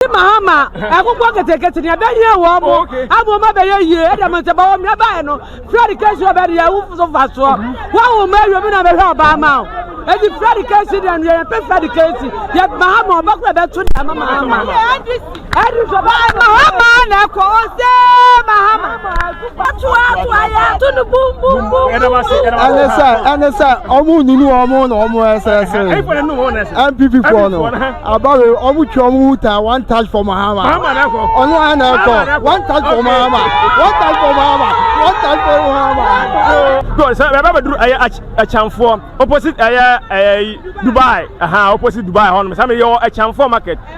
Ɔde Mahama ɛkokɔ ketekete nea ɛbɛhia wɔn mo ama wɔn abɛyɛ yie ɛdɛm nti bɔ wɔn mmerɛ baeɛ no Fred Kesi ɔbɛ de yɛn ho so mfasoɔ wɔawo mma awie mu na bɛhwɛ ɔbaa ma wo ɛdi Fred Kesi deɛ no yɛ yɛpɛ Fred Kesi yɛ Mahama ɔbɛkɔ ɛbɛto deɛ ama Mahama ɛdi sɔ Mahama na ɛkɔ ose Mahama ɛne sɛ ɛne sɛ ɔmo nunu ɔmo na ɔmo ɛsɛsɛ npp foɔ no abawe ɔmo twa ɔmo hu ta one touch for mahama ɔno a na ɛkɔ one touch for mahama one touch for mahama one touch for mahama. good sɛ bɛbɛ bɛ duru ɛyɛ ɛkyɛnfoɔ opposite ɛyɛ ɛyɛ dubai ɛhan opposite dubai hɔ nom sɛ mi yɛ wɔ ɛkyɛnfoɔ market.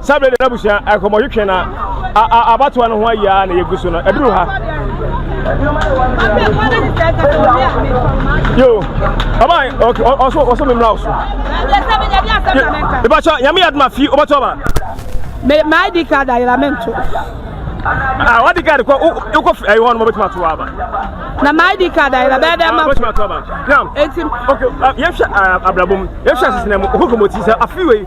Saa bere de n'abusua nkɔmmɔtwetwe na abatoa no ho ayi ara na yegu so no. Aduru ha. Yo, aba okay, also also me mra so. Eba cha, yami adma fi oba toba. Me my ID card ayira mento. Ah, what the card ko u ko ayi hon mo betuma to aba. Na my ID card ayira be be ma. Betuma to aba. Now, okay, yefsha abrabom, yefsha sisna mu, ko ko moti sa afi we.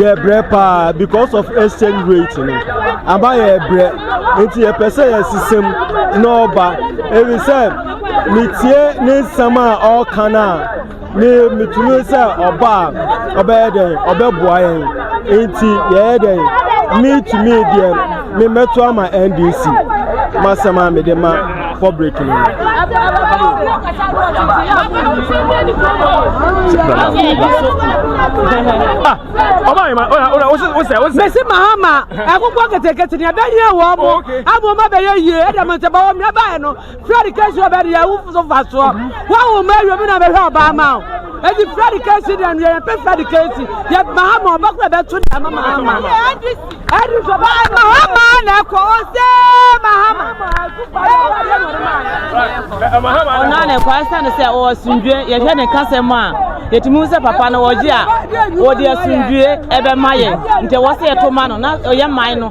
yɛ brɛ paa because of exchange rate no aba yɛ brɛ nti yɛpɛ sɛ yɛsesam na ɔba ebi sɛ metie ne nsɛm a ɔreka no a me metumi sɛ ɔba a ɔbɛyɛ dɛn ɔbɛboa yɛn nti yɛyɛ dɛn metumi deɛ Me mɛto ama NDC masɛm a mede ma public no. Mesi Mahama ɛkokɔ ketekete ni ɛbɛyɛ wɔn mo abɔ mo abɛyɛ yie ɛdɛm ntɛbɔ wɔn mi ɛbɛyɛ no. Fred case ɔbɛ deɛ wo so fa soɔ wawo ma awie bi na bɛhwɛ ɔbaa ma wo ɛti Fred case deɛ no yɛyɛ pɛ Fred case yɛ mahama ɔbɛ kora bɛto deɛ ama mahama no ɛdi so baa no mahama na ɛkɔ ɔsɛ mahama ɔna na ɛkɔ ɛsɛ ne sɛ ɔwɔ asundue yɛhwɛ ne kasɛm a yɛtumi sɛ papa no wɔgye a wɔde asundue ɛbɛma yɛ nti ɛwɔ sɛ yɛto ma no na ɔyɛ man no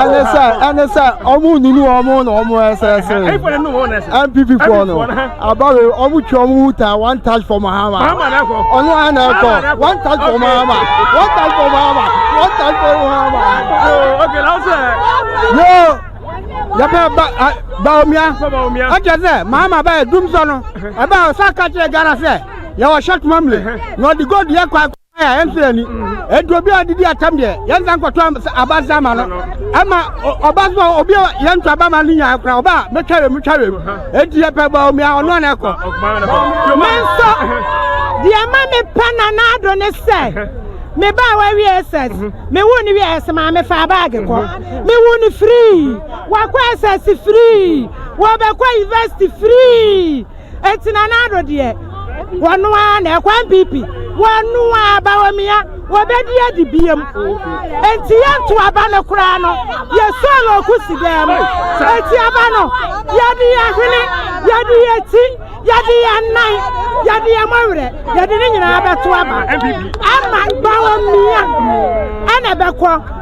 ɛne sɛ ɛne sɛ ɔmo nunu ɔmo na ɔmo ɛsɛ ɛsɛ npp foɔ no abawe ɔmo twa ɔmo hu ta one touch for mahama ɔno ana ɛkɔ one touch for mahama one touch for mahama one touch for mahama yoo yɛbɛ ba baomia ɛkyɛ sɛ mahama bɛyɛ dum sɔ no ɛbɛ ɔsa ka kyerɛ ghana sɛ yɛwɔ short memory na ɔde gold yɛ kɔ akɔ a ɛnfiri ani ɛdu obi a ɔdedi atam deɛ yɛnsa nkɔtɔ abasa ama no ɛma ɔba so obi a yɛnto aba ma no nyaa kora ɔba a mɛtwa wɛm twa wɛm ɛnti yɛpɛ bɔ omi a ɔno ana ɛkɔ nanso deɛ ma mepɛ nana ado ne sɛ me ba wa wi SS me wu ni wi SS ma me fa bag ko me wu ni free wa ko SS free wa ba ko university free Enti Nana Addo deɛ, wɔno ara na ɛkɔ NPP, wɔno ara Bawumia, wɔbɛdi adi biam. Enti yɛnto aba no koraa no, yɛsɔ no ɔko si dan mu. Enti aba no, yɛde yɛn hwene, yɛde yɛn ti, yɛde yɛn nan, yɛde yɛn mɔwerɛ, yɛde ne nyinaa bɛto aba. Ama Bawumia ɛna ɛbɛkɔ.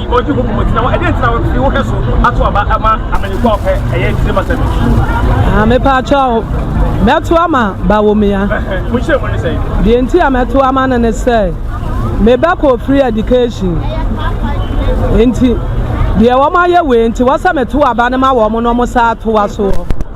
Ɔdi ho bumɔ gyina hɔ. Ɛdeɛ nti na wɔde wo hɛ so ato aba ama amanyɔkuo a wɔpɛ ɛyɛ tirim asɛm yi? Ah, mepɛ akyɛ wo. Mɛto ama Bawumia. Mo nhyɛ mu ne sɛ? Deɛ nti a mɛto ama no ne sɛ, mebɛkɔ free education. Nti, deɛ wɔn ayɛ wei nti, wɔsɛ meto aba no ma wɔn na wɔn san atoa soɔ.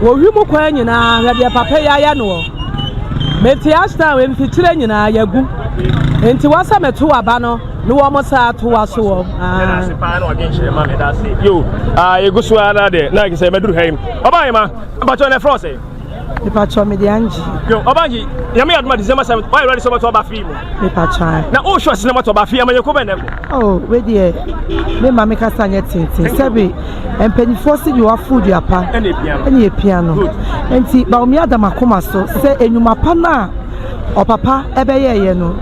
Wɔ wim kwan nyinaa, hwɛ deɛ papa yi ayɛ noɔ. Mete Ashdown mfikyire nyinaa, yɛagu. Enti wɔ sɛ meto aba no na wɔn saa to wa so wɔ. Yo, yɛgu so ara deɛ na sɛ mɛduru ha yi. Ɔbaa yɛ ma, mpatwɔ na ɛfrɛ ɔsɛ. Mpatwɔ mede angye. Yo, ɔbaa angye, nyame yɛ adoma December 7th, why ready sɛ ɔbɛto aba free mu. Mepa kyan. Na o sure sinema tɔ ba fi ama yɛ kɔbɛ nɛ kɔ. Oh, we deɛ me ma me kasa nyɛ tenten sɛbi mpanyinfoɔ si deɛ wafo dua pa ɛne epia no nti baomi adam akoma so sɛ enyuma pa no a ɔpapa ɛbɛyɛ yɛ no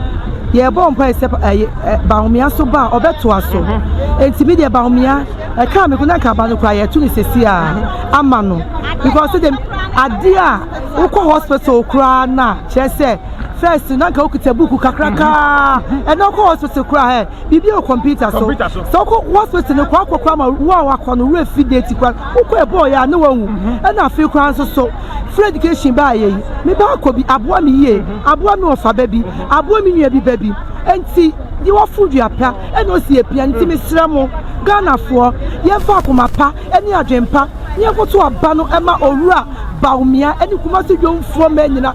yɛbɔ mpa ɛsɛ ɛyɛ eh, baomia so ba a ɔbɛtoa so mm-hmm. nti mi deɛ baomia ɛka mi ko na nka ba no kora yɛto ne sisi a mm-hmm. ama no because de adeɛ a wokɔ hospital koraa na kyerɛ sɛ. First na nka okita buku kakrakaa ɛna ɔkɔ hospital kura ɛ biribi wɔ computer so sɛ ɔkɔ hospital no kɔ akɔkora ma wo a wakɔ no wura fi date kora wokɔ ɛbɔɔ yɛ a ne wahu ɛna afei koraa nso so free education baa yɛ yi me ba akɔ bi aboa me yie aboa me ɔfa ba bi aboa me nua bi ba bi nti de wafo dua pa ɛna osi apia nti mesrɛ mo ghanafoɔ yɛmfa akoma pa ɛne adwen pa ne yɛnkoto aba no ɛma owura baomia ɛne kumase dwomfoɔ mɛ nyina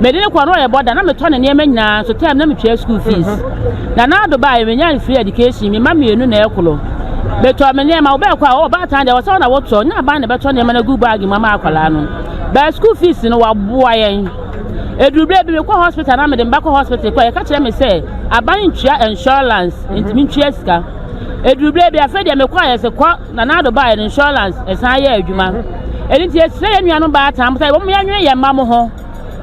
Mede no kɔɔ na ɔyɛ bɔda, na metɔ ne nneɛma nyinaa nso tɛm na metua school fees. Na Nardo baeɛ, menyae free education, me mma mmienu na ɛkoro. Metɔɔ me nneɛma, wobɛɛkɔ a, oh baatan deɛ ɛwɔ sɛ wo na wotɔ, nyɛ aban na ɛbɛtɔ nneɛma no agu bag mu ama akwadaa no. But school fees no, wɔaboa yɛn. Ɛduru berɛ bi mekɔ hospital na mede me ba kɔ hospital kɔ a, yɛka kyerɛ me sɛ aban ntua insurance, nti mentua sika. Ɛduru berɛ bi, afei deɛ mekɔ a yɛse kɔ. Na n'ado baeɛ no insurance ɛsan yɛ adwuma ɛno nti yɛsrɛ yɛn nuanom baatan sɛ wɔn yɛnwene yɛn mma mo ho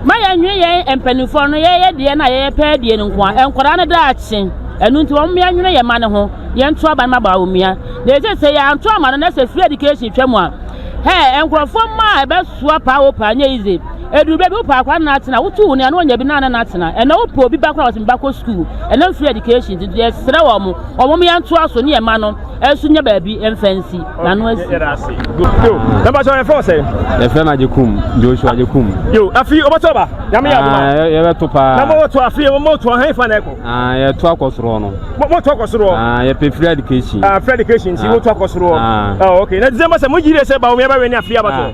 ma yɛnwene yɛn mpanimfoɔ no yɛyɛ deɛ na yɛyɛ pɛɛ deɛ no nko a nkwadaa no daakye ɛno nti wɔn yɛnwene yɛn mma no ho yɛnto aba no ma baa omia na ɛsɛ sɛ yɛanto ama no na sɛ free education twa mu a hɛɛ nkurɔfoɔ mma a ɛbɛsoa paa wɔ paa nyɛ easy ɛduru baabi wopɛ akora no atena wotu wo nea no ɔnya bi na no atena ɛnɛ wopɛ obi ba kora wɔsɛ meba kɔ sukuu ɛnam free education nti yɛsrɛ wɔn wɔn yɛntoa so ne yɛn mma no ɛso nyɛ baabi mfa nsi n'ano asi. yɛda ase yo mɛba sɛ yɛfrɛ sɛ yɛfrɛ no agyekum joshua agyekum yo afei wɔbɛtɔ ba nyame yɛ adoma ah, yɛbɛto paa na mɔwɔto afei mɔwɔto ahɛn fa na ɛkɔ ah, yɛto akɔ soroɔ no mɔto akɔ soroɔ ah, yɛpɛ free education free education nti mɔto akɔ soroɔ ok na december sɛ mogyere sɛ ba wɔmyɛbɛwɛ ne afei abatɔ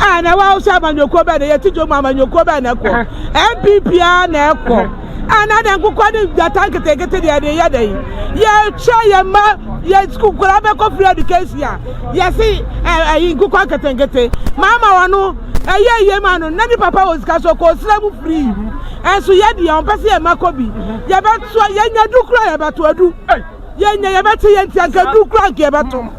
a na ɛwɔ ahosuo amanyɔkuo bɛn na yɛte dwom amanyɔkuo bɛn na ɛkɔ npp a na ɛkɔ a na dɛ nkokɔ ne gyata nketenkete deɛ de yɛ dɛn yɛtwa yɛ mma yɛ sukuu nkwadaa bɛkɔ free education a yɛse ɛyi nkokɔ nketenkete maama wɔn no ɛyɛ yie ma no na ne papa wɔ sika so kɔ osira mu free ɛnso yɛ deɛ wɔn pɛ sɛ yɛ mma kɔ bi yɛbɛto yɛnya du kura yɛbɛto adu yɛnya yɛbɛte yɛn ti anka du kura anka yɛbɛto.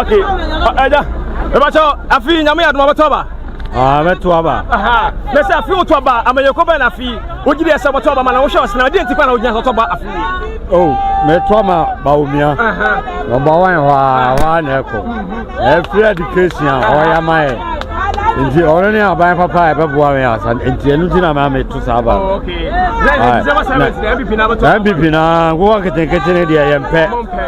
ok ɛda ɛbɛkyɛ afei nyame yɛ adoma bɛtɔ ba mɛto aba na sɛ afei wotɔ ba amayɛkɔ bɛn na afei wogye deɛ sɛ wɔtɔ ba ma na wohwɛ ɔsena wodeɛ nti pa na wogyina sɛ ɔtɔ ba afei o metɔ ma baomia nɔmba wan hɔ a hɔ a na ɛkɔ ɛfiri education a ɔyɛ ma yɛ nti ɔno ne aban papa a ɛbɛboa me asa nti ɛno nti na ma meto saa ba mpp na nkoa nketenkete ne deɛ yɛmpɛ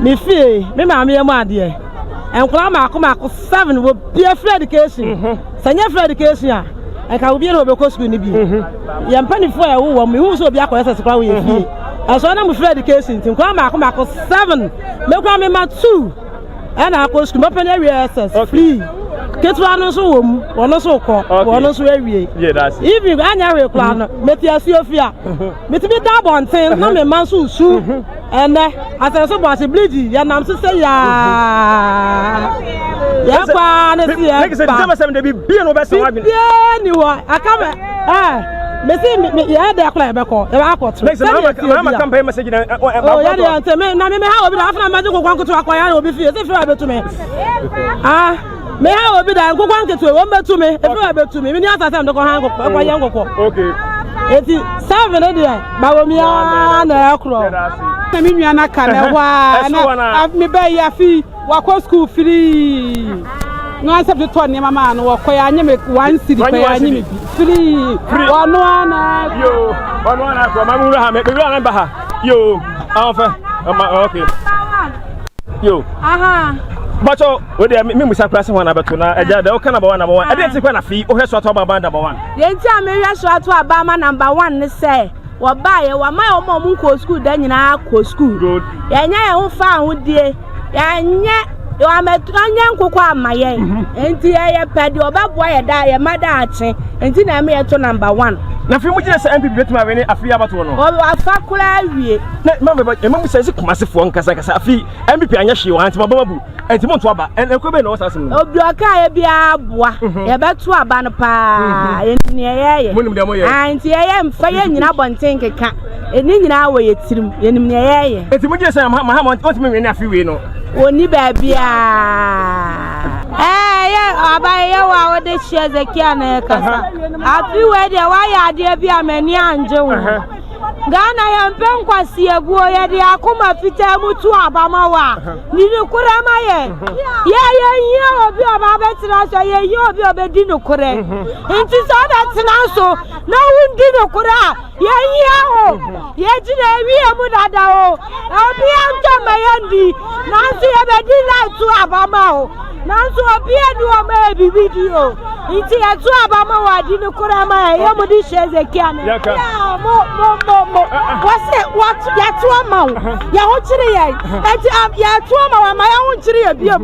me fie me maame yɛ mu adeɛ nkwadaa mako mako seven wɔ bia free education mhm. sɛ nyɛ free education a ɛka wo biara wɔbɛkɔ sukuu no bi mhm. yɛn mpanimfoɔ a ɛwowɔ mu ihu sɛ obi akɔyɛ sɛ sikora wɔyɛ fie mhm. ɛsɔ na mo free education nti nkwadaa mako mako seven mekura me ma two ɛna akɔ sukuu mɛpɛ ne awie ss free ketewa no nso wɔ mu wɔn nso kɔ wɔn nso awie even anya hwee koraa no meti asuo fia metumi da abɔnten na me ma nso su. Ɛnnɛ, asɛnso bɔ ase bleedi, yɛnam so sɛ yaa. Yɛn paa ne se yɛn ba. Bibiara ni hɔ, aka me, ɛɛ, me se me, me, yɛn dɛ kora yɛbɛkɔ, yɛbɛ akɔ to. Sɛdeɛ ɛteɛ bi a. O, yɛ deɛ nti, me, na me, me ha obi da, afena mmɛgye kokwa nkoto akɔ yɛ obi fie, se fira bɛtu me. Ah. Me ha obi da nkokɔ nketewa wɔn bɛtu me ebi wɔ bɛtu me mi ni asase a mekɔ ha nkokɔ ɛkɔ yɛ nkokɔ. Okay. Eti seven ne deɛ bawo mi aa na ɛkorɔ. Na mi nua na ka na ɛhɔ aa na mi bɛ yi afi wakɔ sukuu firii. Na wɔn asɛm totɔ nneɛma maa no wɔkɔ yɛ anyi mi one city kɔ yɛ anyi mi bi firii. Wɔn no ana. Yoo wɔn no ana kɔ maa mi wura ha mi wura na ba ha yoo ahofɛ ɔma ɔkè. yo aha bɔtɔ o de mi musa kura se ho na bɛto na ɛgya dɛ ɔka namba wa namba wa ɛde ti kɔ na fi o hwɛ so ato aba aba namba wa. yɛn ti a mi hwɛ so ato aba ama namba wa ne sɛ wɔbaeɛ wɔama yɛ wɔn a wɔn nkɔ sukuu da nyinaa kɔ sukuu yɛnyɛ yɛn ho fa ahodie yɛnyɛ wɔnyɛ nkokɔ ama yɛn mhm. nti yɛyɛ pɛ deɛ ɔbɛboa yɛ da yɛ ma da akye nti na ɛma yɛto number one. na fi mu gyina sɛ npp bɛtumi awene afei abatoɔ no. wɔafa koraa awie. na ma mɛba ɛma mu sɛnsi kumasefoɔ nkasakasa afei mpp anyɛ hwee wɔn ntoma bɛma bu ɛnti mo nto aba ɛkɔ bɛyɛ na ɔwɔ saa asɛm no. obi ɔka yɛ biara boa mhm. yɛbɛto aba no paa mhm. yɛn nyinaa yɛyɛ mo nim deɛ mo yɛ ah, nti yɛyɛ mfa yɛ nyinaa bɔnten nkeka ɛni nyinaa wɔ yɛ tirim yɛn nim deɛ yɛyɛ. eti mo gye sɛ ma ha ma ɔntumi nwene afi wei no. wɔni baabiara ɛɛ yɛ aba yɛ wɔ a wɔde hyɛ zekia na ɛkasa afi wei deɛ wɔayɛ adeɛ bi a m'ani angye ho. Ghana yɛmpɛ nkwaseabuo, yɛde akoma fitaa mu to aba ma wo a, di nokorɛ ma yɛn. Yɛ yɛnhia obi a ɔba abɛtena so, yɛhia obi a ɔbɛdi nokorɛ. Nti sɛ ɔbɛtena so na wondi nokorɛ a, yɛhia wo. Yɛgyina awie mu dada o, obiara ntɔ mma yɛndi, nanso yɛbɛdi live to aba ma wo. Nanso obi adi wɔn a ebibi di o. Nti yɛto aba ma wɔadi no koraa ma ɛyɛ mo de hyɛ Hezekia ne nsa. Mo mo mo mo wɔsɛ wɔto yɛto ama wo yɛn ho kyere yɛn nti yɛto ama wɔn ma yɛn ho nkyere yɛ biom.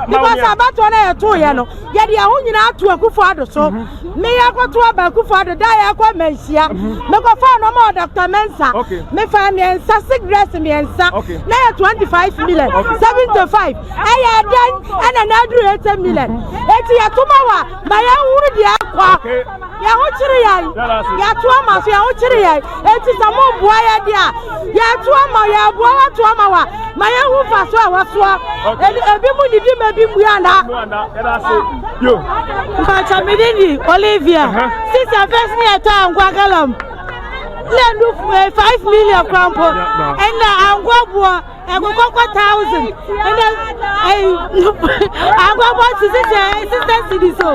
Because abatoɔ no yɛto yɛ no yɛde yɛn ho nyinaa ato akufo ado so. Me ya kɔ to aba kufu ado da ya kɔ ma nhyia. Mhm. Me kɔ fa no ma Dr. Mensa. Me fa me nsa cigarettes me nsa. Na ya 25 million. 75. Aya dan ana na adru 80 million. Mhm. Eti ya to ma wa ma ya huru dia kwa. Ya ho chiri ya. Ya to ama so ya ho chiri ya. Enti sɛ moboa yɛn deɛ a, yɛto ama, yɛboa wo ato ama wo a, ma yɛhu mfasoɔ a ɛwɔ soɔ. Ɛne ebi mu didi ma ebi mmua nna. Mpakyɛ me din di Olivia. Sisi afɛs ne yɛtɔ ankoa galɔn ne ɛnu five million kora mpo. Ɛnna ankoa boɔ. ɛkokɔkɔ thousand ɛnɛ ɛyi akɔkɔ sisi sɛ sisɛ sidi so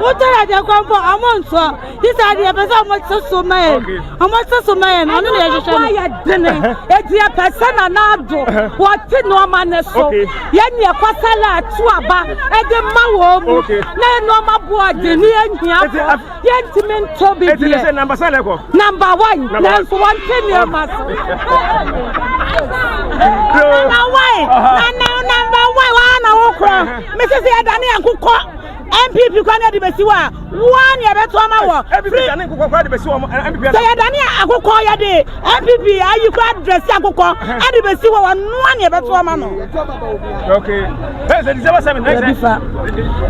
wotɔ yɛ deɛ kɔnkɔ ɔmo nsɔ sisi adeɛ pɛ sɛ ɔmo sɛ so ma yɛ ɔmo sɛ so ma yɛ no ɔno na yɛhwehwɛ no yɛ dene ɛdeɛ pɛ sɛ na n'ado wɔte nneɛma ne so yɛ neɛ kɔsala ato aba ɛde ma wɔn mu na nneɛma boɔ de ne yɛ nhia fɔ Yɛntumi ntɔ bi deɛ. Ɛti sɛ namba sɛ na ɛkɔ. Namba wan nanso wɔn ti nneɛma so. Nana wan nana namba wan wɔn na wɔkura. Mesi sɛ yɛda ne yɛn kokɔ. MPP kwan na de besi wa wɔn na yɛbɛto ama wɔ. MPP da ne kokɔ kwan de besi wɔn MPP. Sɛ yɛda ne akokɔ yɛde. NPP ayi kɔ adrɛsi akokɔ ɛde bɛsi hɔ wɔnoa ne ɛbɛto ɔma no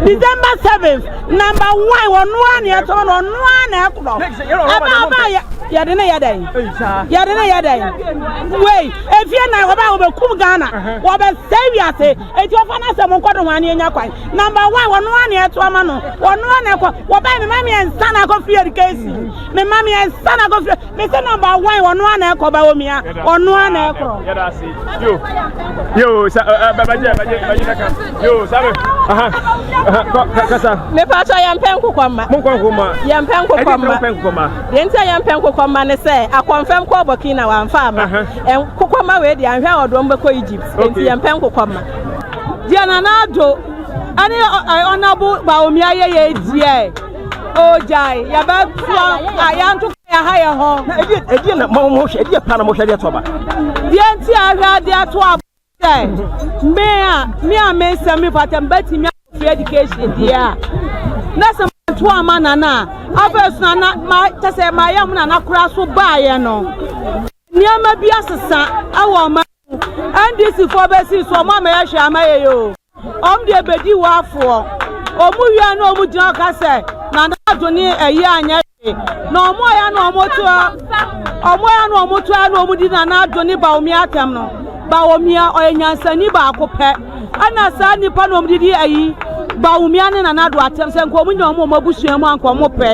December 7 number 1 wɔnoa ne ɛto ɔma no ɔnoa na ɛkorɔ ɛba ɔba yɛde ne yɛ dɛn yɛde ne yɛ dɛn wei efie na wɔba wɔbɛkum Ghana wɔbɛsɛ wiase eti wɔfa no asɛm nkɔdo ho ane anya kwan number 1 wɔnoa ne ɛto ɔma no wɔnoa na ɛkɔ wɔba me ma me ɛnsa na akɔ free education me ma me ɛnsa na akɔ free Mese number one ɔno ara na ɛkɔ Bawumia ɔno ara na ɛkorɔ. Yɛda ase yo yo sa bɛbɛgye bɛgye bɛgye bɛka yo sa bɛ aha aha kasa. Mepatɔ yɛn mpɛ nkokɔ mma. Mo nkɔ nkokɔ mma. Yɛn mpɛ nkokɔ mma. Ɛdi nkokɔ mma. Deɛ nti a yɛn mpɛ nkokɔ mma ne sɛ akɔnfɛm kɔɔ Burkina wɔn anfa ama. Nkokɔ mma wei deɛ anhwɛ a ɔde wɔn bɛkɔ Egypt. Nti yɛn mpɛ nkokɔ mma. Deɛ Nana Addo ɛne ɔnabo Bawumia yɛ yɛ deɛ. ogyae yɛbɛtoa a yɛnto kɔ yɛha yɛ ho. na ɛdeɛ ɛdeɛ na mohwɛ ɛdeɛ pa na mohwɛ deɛ to aba. deɛ nti a hwɛ adeɛ to aba sɛ me a me a me nsɛm me fata mbɛtumi akɔfiri education deɛ a na sɛ manto ama nana a afei so nana ma kyɛ sɛ mayɛ ho nana koraa so baeɛ no nneɛma bi asesa ɛwɔ ɔma NDC foɔ bɛ si so ɔmo ama yɛ hwɛ ama yɛ yɛ o ɔmo deɛ bɛ di wɔ afoɔ ɔmo wia na ɔmo gyina ɔka sɛ na na ado ne ɛyɛ anyɛ hwɛ na ɔmo ya na ɔmo to ɔmo ya na ɔmo to ya na ɔmo di na na ado ne baomia atɛm no baomia ɔyɛ nyansani baako pɛ. Ɛna saa nnipa na wɔn de di ayi Bawumia ne Nana Addo atɛm sɛ nka wɔn nyɛ wɔn wɔn abusua mu anka wɔn pɛ.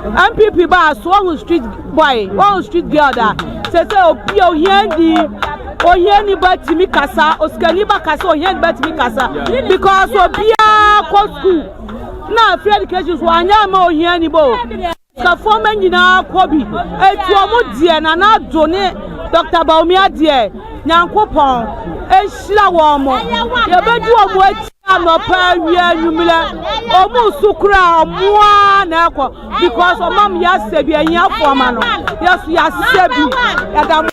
NPP ba a so ɔho street boy ɔho street girl da sɛ sɛ obi a ohia ni ohia ni ba tumi kasa osikani ba kasa ohia ni ba tumi kasa because obiara kɔ school na free education so anyɛ ama ohia ni ba o. Kafɔɔma nyinaa kɔ bi ɛtu ɔmo deɛ Nana Addo ne Doctor Bawumia deɛ Nyankopɔn nhyira wɔmo yɛbɛdi ɔmo akyi anɔpa awia anwummerɛ ɔmo so koraa ɔmoaa na ɛkɔ because ɔmam yɛasɛ bi ahiafoɔ ma no yɛso yɛasɛ bi yɛda mo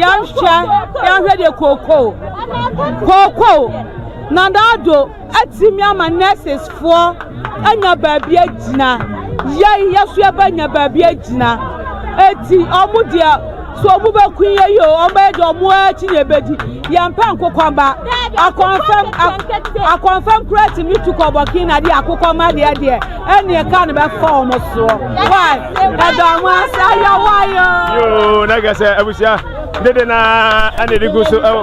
Yɛnhwɛ, yɛnhwɛ deɛ kookoo, kookoo, Nana Addo atumi ama nurses foɔ anya baabi agyina, yɛn yɛso yɛbɛnya baabi agyina, eti ɔmo deɛ so ɔmo bɛku yɛ yi o, ɔmo bɛyɛ deɛ ɔmo akyi na ebedi, yɛmpɛ nkokɔmba, akɔnfɛm, akɔnfɛm kura tumi tu kɔ Burkina de akokɔmba deɛ deɛ. ɛne ɛka no bɛfa wɔn soɔ wai ɛda mo ase ayɛwa yɛ yoo na kɛ sɛ abusua dede na ɛna ɛde gu so ɛwɔ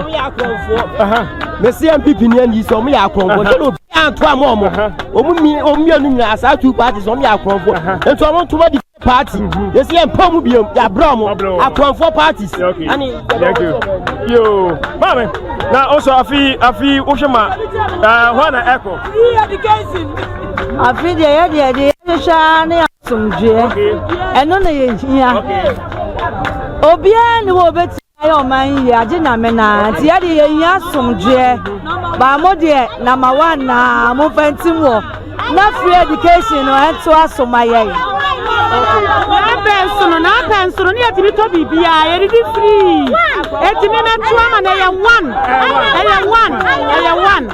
ne cmpp ni ɛni sɛ ɔmo yɛ akɔnfo sɛ na obi anto ama ɔmo ɔmo mi ɔmo mmienu nyinaa saa two parties ɔmo yɛ akɔnfo nti ɔmo ntoma di. party yɛsi yɛn mpɔn mu biom yɛ abrɛ ɔmo akɔnfoɔ parties ɛne yoo maame na ɔsɔ afi afi wohwɛ ma ɛɛ hɔ na ɛkɔ. afi deɛ yɛ deɛ deɛ yɛhwehwɛ ne asomdwoeɛ ɛno na yɛhia obiara ne wɔ obɛti Ayɛ ɔman yi yie agye nyame naa nti yɛ de yɛ hia somdweɛ baa mo deɛ namba one naa mo nfa ntim wɔ na free education no ɛnto aso ma yɛ. N'apɛn so no n'apɛn so no ne yɛtumi tɔ biribiara yɛdidi free ɛtumi na to ama na ɛyɛ one ɛyɛ one ɛyɛ one.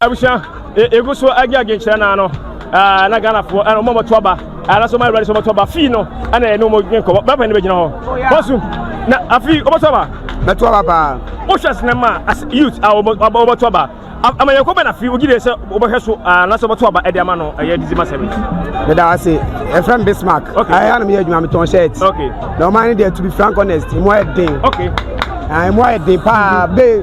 Abusua, yɛgu so agye adwenkyerɛ no ano na Ghanafoɔ ɛna ɔmo ɔmɔto aba ɛna so ɔmo awurade so ɔmɔto aba fii no ɛna ɛne ɔmo dwen kɔbɔ bɛpɛ ne bɛgyina hɔ bɔsum na afei ɔmɔto aba bɛto aba paa wohwɛ sinema as youth a ɔmɔto aba ama yɛn kɔbɛ na afei ogyi deɛ sɛ ɔbɛhwɛ so na sɛ ɔmɔto aba ɛde ama no ɛyɛ dizi ma sɛbi meda ase ɛfrɛ m bismark ɛyɛ anam yɛ adwuma metɔn shirt na ɔma ne deɛ to be frank honest mu ayɛ den mu ayɛ den paa bee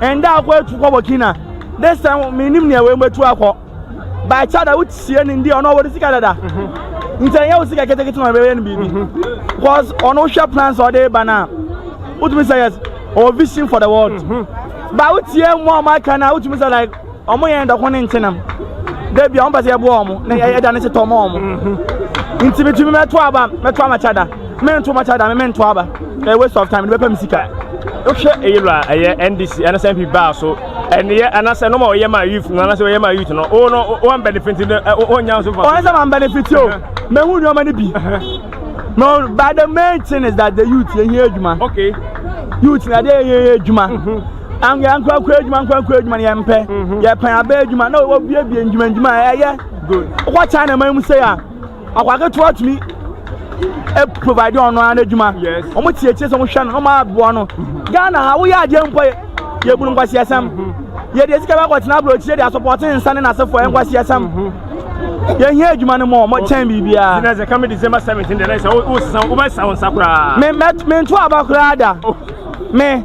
Ɛnda akɔ etu kɔ Burkina. This time menim nea wei mɛtu akɔ. By Chada wotie ne ndi ɔno ɔwɔ sika dada. Mhm. Nti ɛnyɛ wo sika ketekete na ɔbɛyɛ no biribi. Mhm. Because ɔno wohwɛ plans a ɔde ba no a wotumi sɛ yes ɔwɔ vision for the world. Mhm. Ba wotie mu a ɔmo aka no a wotumi sɛ like Wɔn yɛn dɔko ne nkyenam. Da bi a wɔn pɛ sɛ yɛboa wɔn na yɛda ne setɔ ma wɔn. Mhm. Nti bitumi mɛto aba mɛto amakyɛ da. Mento makyɛ da mento aba. Ɛyɛ waste of time ne bɛpɛ me sika. Wohwɛ eyi lɔ a ɛyɛ NDC ɛna sɛ NPP baa so ɛneyɛ anasɛ nɔma ɔyɛ ma youth no anasɛ ɔyɛ ma youth no wo no wɔn benefit no wɔn nya so fa. Wɔn sɛ wɔn benefit o mehu nneɛma no bi. No, but the main thing is that the youth yɛ hia adwuma. Okay. Youth na de yɛ adwuma. Anwea nkorankora adwuma nkorankora adwuma no yɛmpɛ mhm. yɛpɛn abɛ adwuma na wɔbuebue ndwuma ndwuma a ɛyɛ wokɔ china man mu sɛ a akwaketewa tumi e provide ɔno ara n'adwuma wɔn tietie sɛ wɔn hwɛ no wɔn aboa no mhm. ghana ha woyɛ adeɛ mpo yɛ bunu nkwasiasɛm mhm. yɛde esika bɛ akɔtena aburokyire de asopɔte nsa ne n'asefoɔ nkwasiasɛm yɛhia adwuma no mɔ mɔkyɛn biribiaa mento aba koraa da me